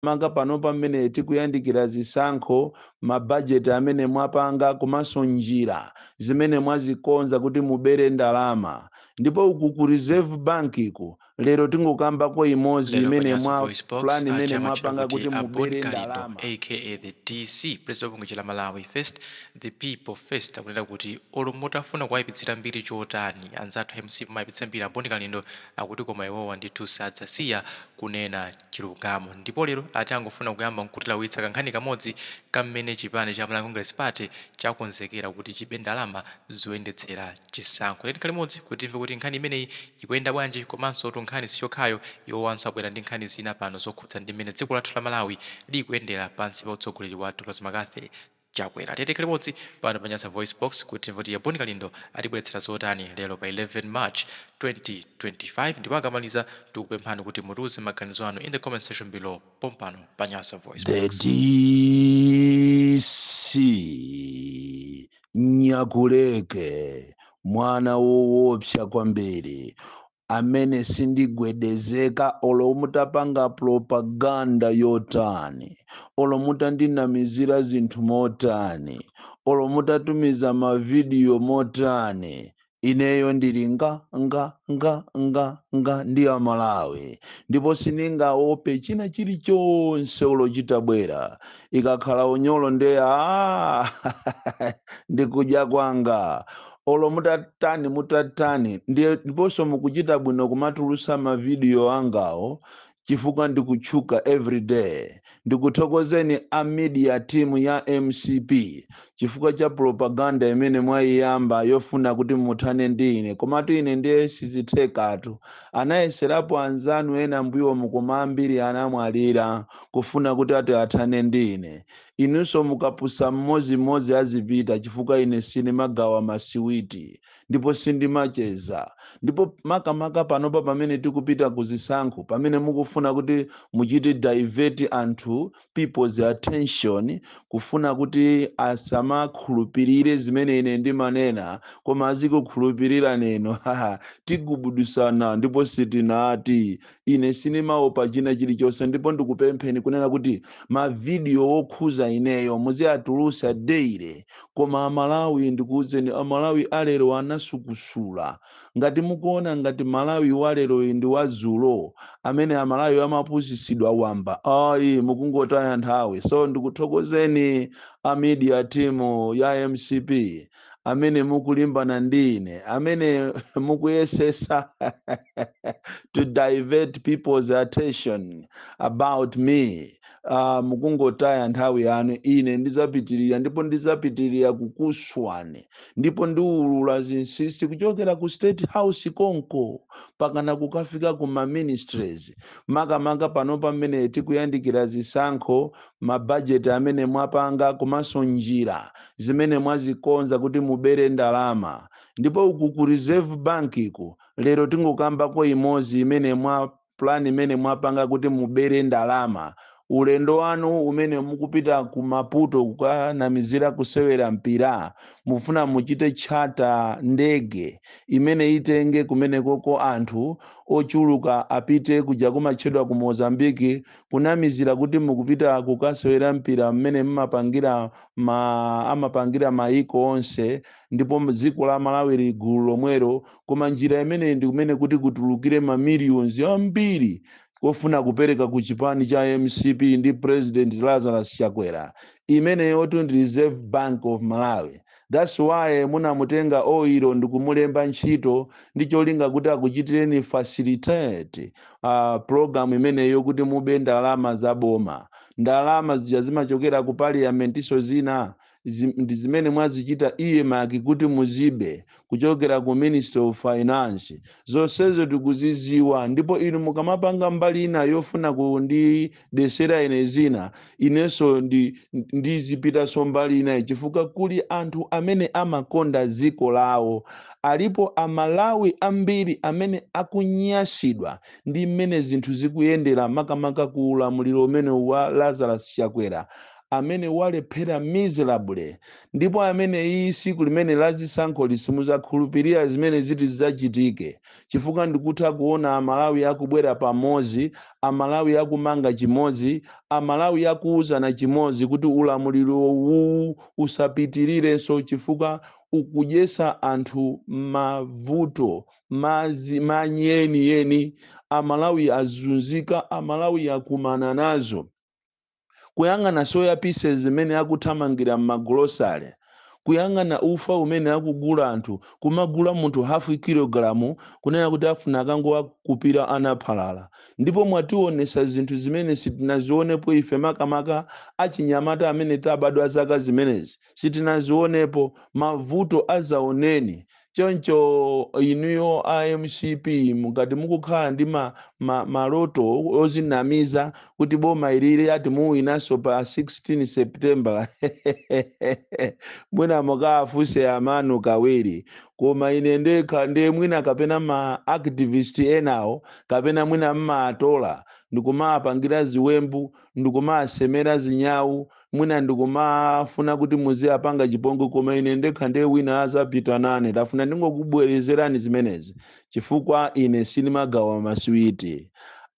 makamaka panopa mmene tikuyandikira zisankho, mabajeti amene mwapanga komanso njira zimene mwazikonza kuti mubere ndalama. Ndipo uku ku Reserve Bank-ku, lero tingokambako imodzi Lero pa imene Nyasa mwa Voice Box, plan imene aja amatchedwa mwapanga kuti kuti a Bon mubere Kalindo ndalama. aka the DC, president wa bungwe cha la Malawi First, the People First, akunena kuti olo mutafuna kuwayipitsira mbiri chotani anzathu a mcp mumayipitsa mbiri a Bon Kalindo akuti koma iwowa ndithu sadzasiya kunena chilungamo ndipo lero ati angofuna kuyamba nkutilawitsa kankhani kamodzi ka mmene chipani cha Malawi Congress Party chakonzekera kuti chibe ndalama zoyendetsera chisankho. Tiyeni tikhale limodzi kuti timve kuti nkhani imeneyi ikuyenda bwanji komansotu nkhani siyokhayo, iwowanso abwera ndi nkhani zina pano zokhudza ndi mmene dziko lathu la Malawi likuyendera pansi pa utsogoleri wa Dr. McCarthy. Chakwera. Tiyeni tikhale limodzi pano pa Nyasa VoiceBox kuti timve kuti a Bon Kalindo atibweretsera zotani lero pa 11 March, 2025 ndipo akamaliza tikupemphani kuti mutiuze maganizo anu in the comment section below pompano pa Nyasa VoiceBox. The DC Nyakuleke mwana woopsa kwambiri amene sindigwedezeka olo mutapanga propaganda yotani olo mutandinamizira zinthu motani olo mutatumiza mavidiyo motani ineyo ndili nga nga nga nga nga ndi amalawi ndipo sindingaope china chilichonse olo chitabwera ikakhala unyolo nde a ndikudya kwanga olo mutatani mutatani ndiye ndiponso mukuchita bwino kumatulutsa mavidiyo angawo chifukwa ndikutchuka everyday ndikuthokozeni a media team ya mcp chifukwa cha propaganda imene mwayiyamba yofuna kuti muthane ndi ine komatu ine ndiye sizithekatu anayeserapo anzanu ena mbuyomu koma ambiri anamwalira kufuna kuti ati athane ndi ine Inunso mukapusa mmodzimmodzi azipita chifukwa ine sindimagawa masiwiti ndipo sindimacheza. Ndipo makamaka panopa pamene tikupita ku zisankho, pamene mukufuna kuti muchite divert anthu people's attention kufuna kuti asamakhulupirire zimene ine ndimanena koma azikukhulupirirani inu, haha, tigubuduzana ndipo sitinati ine sinimaopa china chilichonse ndipo ndikupempheni kunena kuti mavidiyo wokhuza ineyo muziatulusa daily koma amalawi ndikuuzeni amalawi alero anasukusula ngati mukuona ngati malawi waleroyi ndi wazulo amene amalawi amapusisidwa wamba ayi mukungotaya nthawi so ndikuthokozeni a media team ya mcp amene mukulimbana ndi ine amene mukuyesesa to divert people's attention about me uh, mukungotaya nthawi yanu ine ndizapitirira ndipo ndizapitirira kukuswani ndipo ndiulula zinsinsi kuchokera ku state house konko pakana kukafika ku ma ministries makamaka pano pamene tikuyandikira zisankho mabajeti amene mwapanga komanso njira zimene mwazikonza kuti mubere ndalama. Ndipo uku ku Reserve Bank ku, lero tingokambako imodzi imene mwa plan imene mwapanga kuti mubere ndalama. Ulendo wanu umene mukupita ku Maputo kukanamizira kusewera mpira, mufuna muchite charter ndege imene itenge kumenekoko anthu ochuluka apite kuja kumatchedwa ku Mozambique kunamizira kuti mukupita kukasewera mpira mmene mmapangira ma amapangira mayiko onse ndipo dziko la malawi lili gulu lomwelo koma njira imeneyi ndi kumene kuti kutulukire ma millions ambiri kofuna kupereka ku chipani cha mcp ndi president lazarus chakwera imeneyotu ndi reserve bank of malawi That's why munamutenga Oiro ndikumulemba ntchito ndi cholinga kuti akuchitireni facilitate uh, program imeneyo kuti mube ndalama za boma. Ndalama zija zimachokera ku parliamentinso zina zi- ndi zimene mwazichita earmark kuti muzibe kuchokera ku Ministry of Finance. Zonsezo tikuziziwa ndipo inu mukamapanga mbali ina yofuna kundi desera ine zina inenso ndi- ndizipitanso mbali inayi chifukwa kuli anthu amene amakonda dziko lawo alipo amalawi ambiri amene akunyasidwa ndi mmene zinthu zikuyendera makamaka ku ulamuliro umene wa lazarus chakwera amene walephera miserably ndipo amene iyi siku limene lazisankholi simudzakhulupirira zimene ziti zidzachitike chifukwa ndikutha kuona amalawi akubwera pamozi amalawi akumanga chimodzi amalawi akuuzana chimodzi kuti ulamuliro uwuwu usapitirirenso chifukwa ukudyesa anthu mavuto mazi manyi eni eni amalawi azunzika amalawi akumana nazo kuyang'ana soya pieces zimene akuthamangira mmagolosale, kuyang'ana ufa umene akugula anthu, kumagula munthu half kilogalamu kunena kuti afuna akangowakupira ana phala la. Ndipo mwatiwonesa zinthu zimene sitinazionepo ife makamaka achinyamata amene tabadwa zaka zimenezi. sitinazionepo mavuto azaoneni choncho inuyo a mcp mukati mukukhala ndi ma, ma, maloto ozinamiza kuti boma ilili ati muwinaso pa 16 september mwina mukafunse amanu kawiri koma ine ndekha ndiye mwina kapena ma activist enawo kapena mwina mmatola ndikumapangira ziwembu ndikumasemera zinyawu mwina ndikumafuna kuti muziapanga chipongwe koma ine ndekha ndiye wina azapita nane ndafuna ndingokubwerezerani zimenezi chifukwa ine sindimagawa masiwiti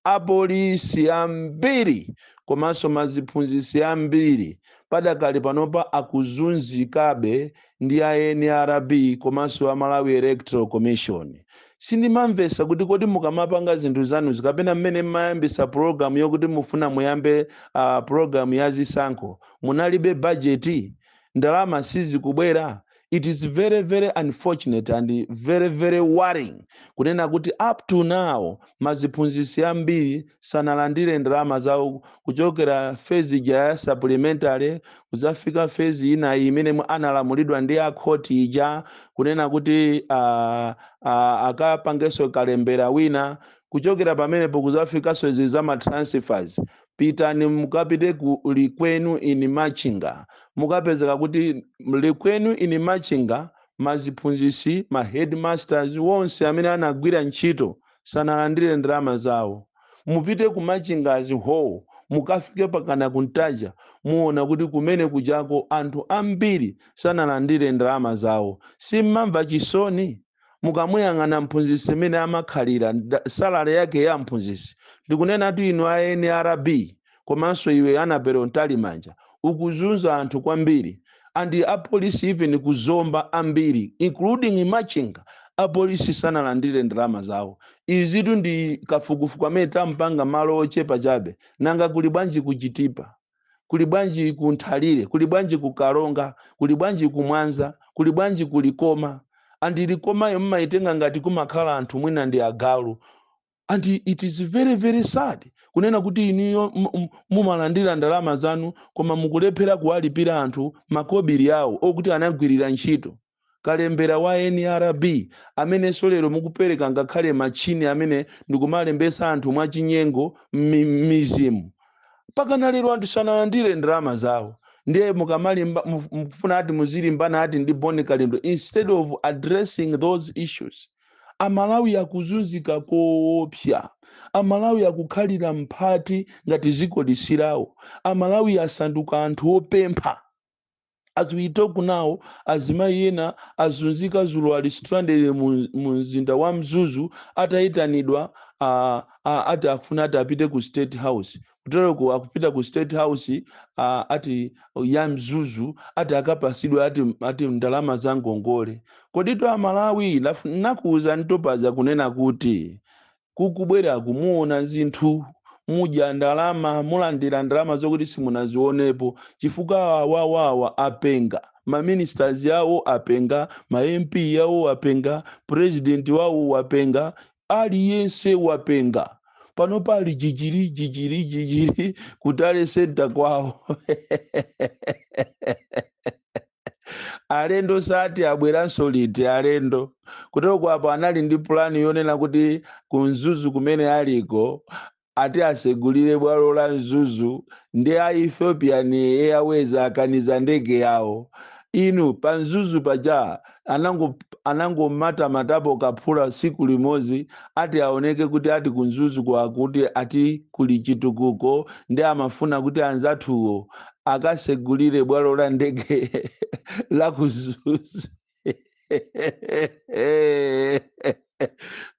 apolisi ambiri komanso maziphunzitsi ambiri padakali panopa akuzunzikabe ndi a nrb komanso a malawi electoral commission sindimamvesa kuti kodi mukamapanga zinthu zanuzi kapena mmene mmayambisa pulogalamu yokuti mufuna muyambe uh, pulogalamu ya zisankho munalibe bajeti ndalama sizikubwera it is very very unfortunate and very very worrying kunena kuti up to now maziphunzitsi ambiri sanalandire ndalama zawo kuchokera phase ija ya supplementary kudzafika phase ina iyi imene mwe- analamulidwa ndi akhoti ija kunena kuti ah, ah, akapangenso kalembera wina kuchokera pamenepo kudzafikanso izi za ma transfers pitani mukapite ku likwenu in machinga mukapezeka kuti likwenu in machinga maziphunzitsi ma headmasters wonse amene anagwira ntchito sanalandire ndalama zawo mupite ku machinga hall mukafike pakana ku ntaja muona kuti kumene kujako anthu ambiri sanalandire ndalama zawo simmamva chisoni mukamuyang'ana mphunzitsi imene amakhalira nda- salary yake ya mphunzitsi ndikunenatu inu a nrb komanso iwe annabel mtalimanja ukuzunza anthu kwambiri and apolisi even ku zomba ambiri including machinga apolisi sanalandire ndalama zawo izitu ndi kafukufuku amene tampanga malo ochepa chabe nanga kuli bwanji ku chitipa kuli bwanji ku nthalire kuli bwanji ku karonga kuli bwanji ku mwanza kuli bwanji ku likoma and likomayo mmayitenga ngati kumakhala anthu mwina ndi agalu and it is very very sad kunena kuti inuyo m- m- mumalandira ndalama zanu koma mukulephera kuwalipira anthu makobiri awo okuti anagwirira ntchito kalembera wa nrb amenenso lero mukupereka ngakhale machini amene ndikumalembesa anthu mwachinyengo mmi- mmizimu pakana lero anthu sanalandire ndalama zawo ndiye mukamalimba mu- mukufuna ati muzilimbana ati ndi bon kalindo instead of addressing those issues amalawi akuzunzika koopsa amalawi akukhalira mphati ngati ziko lisilawo amalawi asanduka anthu opempha as we talk now azimayi ena azunzika zulo ali stranded mu, mu mzinda wa mzuzu ataitanidwa uh, uh, ati afuna ati apite ku state house kutereko akupita ku state house uh, ati ya mzuzu ati akapasidwe ati, ati ndalama za ngongole koditu amalawi naf- nakuuza ntopaza kunena kuti kukubwera kuno muona zinthu mudya ndalama mulandira ndalama zokuti simunazionepo chifukwa awawawa apenga maministers yawo apenga ma mp yawo apenga president wawo wapenga Aliyense wapenga. Panopa ali jijiri jijiri jijiri ku tally center kwawo. alendo ati abweranso liti alendo kutero kwapo anali ndi pulani yonena kuti kumzuzu kumene aliko ati asegulire bwalo la mzuzu ndi a ethiopian airways akaniza ndege yawo inu pa mzuzu paja anango- anangomatamatapo kaphula siku limozi ati aoneke kuti ati kumzuzu kwakuti ati kuli chitukuko ndi amafuna kuti anzathuwo akasegulire bwalo la ndege la kumzuzu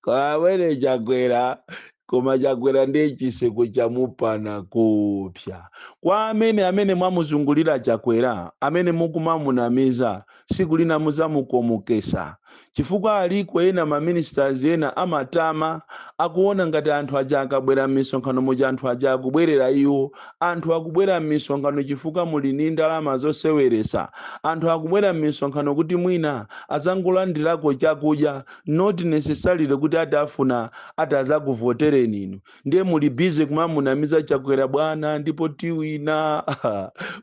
kwa amene chakwera koma chakwera ndiye chitseko chamupana kupsa kwa amene amene mwamuzungulira chakwera amene mukumamunamiza siku lina muzamukomokesa chifukwa aliko ena maministers ena amatama akuona ngati anthu aja akabwera m'misonkhano muja anthu aja akubwerera iwo Anthu akubwera mmisonkhano chifukwa muli ndi ndalama zoseweresa. Anthu akubwera mmisonkhano kuti mwina azangolandirako chakudya not necessarily kuti ati afuna ati azakuvotereni inu. Ndiye muli busy kumamunamiza Chakwera bwana ndipo tiwina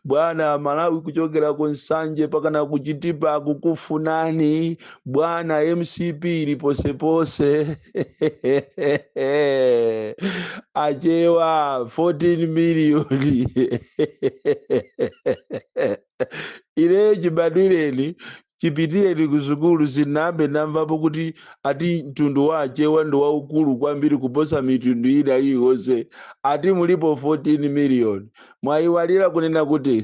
bwana Malawi kuchokera ku Nsanje pakana ku Chitipa akukufunani bwana mcp ili posepose achewa 14 miliyoni ineyo chibadwireni chipitireni ku sukulu sinambe ndamvapo kuti ati mtundu wa achewa ndi waukulu kwambiri kuposa mitundu ina iliyonse ati mulipo 14 miliyoni Mwaiwalira kunena kuti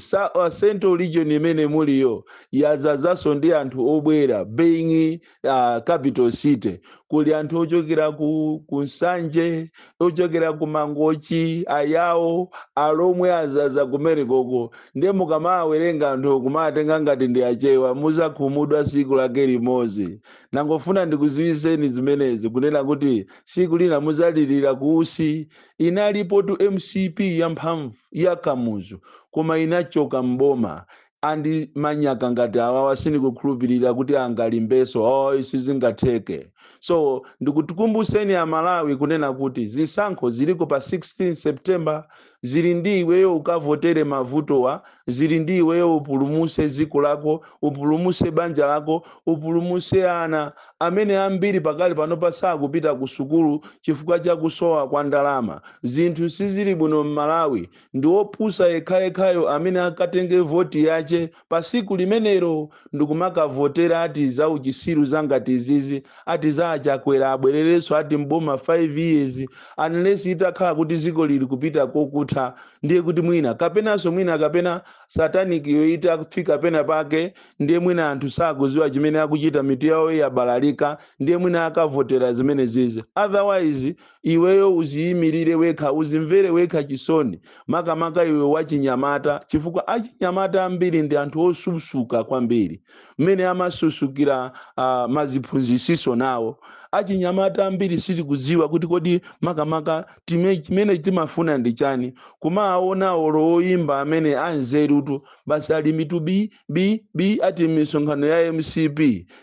central region imene muliyo yazazanso ndi anthu obwera being uh, capital city kuli anthu ochokera ku, ku nsanje ochokera ku mangochi ayawo alomwe azaza kumene koko ndiye mukamawerenga anthu kumawatenga ngati ndi achewa muzakhumudwa siku lake limodzi nangofuna ndikuziwiseni zimenezi kunena kuti siku lina muzalilira kuusi inalipotu mcp ya mphamvu ya kamuzu koma inachoka m'boma and manyaka ngati awawa sindikukhulupirira kuti angalimbenso ayi sizingatheke so ndikuti ndikukumbuseni amalawi kunena kuti zisankho ziliko pa 16 september zili ndi iweyo ukavotere mavutowa zili ndi iweyo upulumuse dziko lako upulumuse banja lako upulumuse ana amene ambiri pakali panopa sakupita kusukulu chifukwa cha kusowa kwa ndalama. Zinthu sizili bwino m'Malawi. Ndi wopusa yekhayekhayo amene akatenge voti yache pa siku limenelo ndikumakavotera ati za uchisiru za ngati izizi ati za a Chakwera abwererenso ati m'boma 5 years unless itakhala kuti ziko lili kupita kokutha ndiye kuti mwina kapenanso mwina kapena satanic-yo itafika pena pake ndiye mwina anthu sakuziwa chimene akuchita mitu yawo yabalalika ndiye mwina akavotera zimenezizi otherwise iweyo uziyimilire wekha uzimvere wekha chisoni makamaka iwe wachinyamata chifukwa achinyamata ambiri ndi anthu osusuka kwambiri mmene amasusukira uh, maziphunzisiso nawo achinyamata ambiri sitikudziwa kuti kodi makamaka time- chimene timafuna ndi chani kumaona olo oyimba amene anzerutu basi ali mitu bi bi bi ati mmisonkhano ya mcp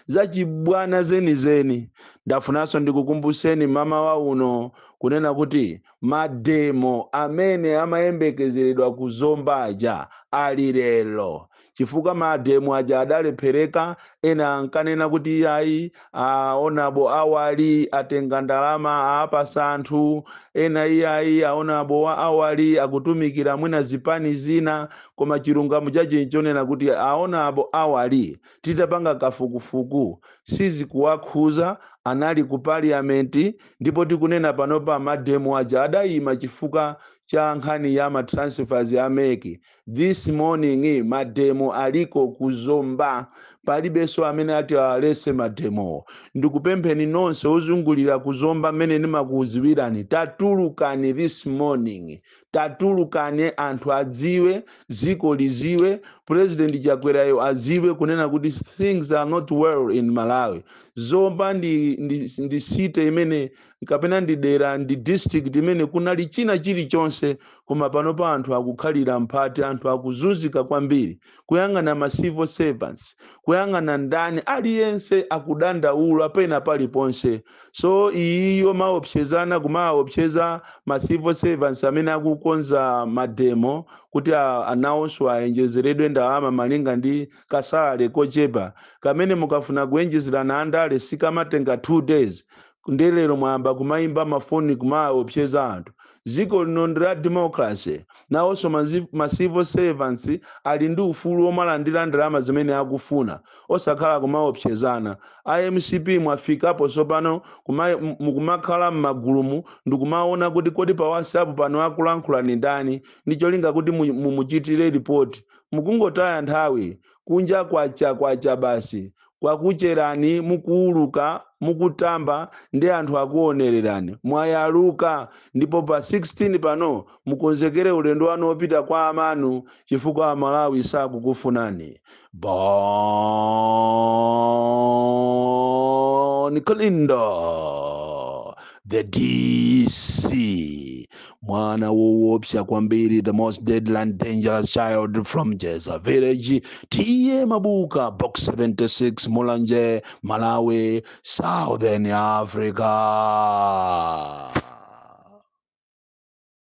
zachibwana zenizeni ndafunanso ndikukumbuseni mmawa uno kunena kuti mademo amene amayembekezeredwa ku zomba aja ali lero chifukwa mademo aja adalephereka ena ankanena kuti iyayi a Honourable Awali atenga ndalama aapasa anthu ena iyayi a Honourable Awali akutumikira mwina zipani zina koma chilungamo chache nchonena kuti a Honourable Awali titapanga kafukufuku sizikuwakhuza anali ku parliament ndipo tikunena panopa mademo aja adayima chifukwa cha nkhani ya matransfers a MEC this morning mademo aliko ku zomba palibenso amene ati awalese mademowo ndikupempheni nonse ozungulira ku zomba mmene ndimakudziwirani tatulukani this morning tatulukani anthu adziwe dziko lidziwe president chakwerayo adziwe kunena kuti things are not well in malawi zomba ndi, ndi, ndi city imene kapena ndi dera ndi district imene kunali china chilichonse koma pano pa anthu akukhalira mphapati anthu akuzunzika kwambiri kuyang'ana ma civil servants kuyang'ana ndani aliyense akudandaula pena paliponse so iyiyo maopsezana kumaopseza ma civil servants amene akukonza mademo kuti a- nawonso awonjezeredwe ndalama malinga ndi kasalary kochepa kamene mukafuna kuwonjezerana andale sikamatenga 2 days nde lero mwayamba kumayimba mafoni kumawaopseza anthu dziko lino ndi la democracy nawonso mazi- ma civil servants ali ndi ufulu womalandira ndalama zimene akufuna osakhala kumaopsezana a MCP mwafikapo tsopano kuma- m- mukumakhala m'magulumu ndikumaona kuti kodi pa whatsapp pano akulankhulayu ndi ndani ndi cholinga kuti mu- mumuchitire ripoti mukungotaya nthawi kunja kwacha kwacha basi kwakucherani mukuuluka mukutamba nde anthu akuonererani mwayaluka ndipo pa 16 pano mukonzekere ulendo wanu wopita kwa amanu chifukwa amalawi sakukufunani bon Kalindo the dc mwana wowopsa kwambiri the most deadly and dangerous child from jeza village tiye mabuka box 76 mulanje malawi southern africa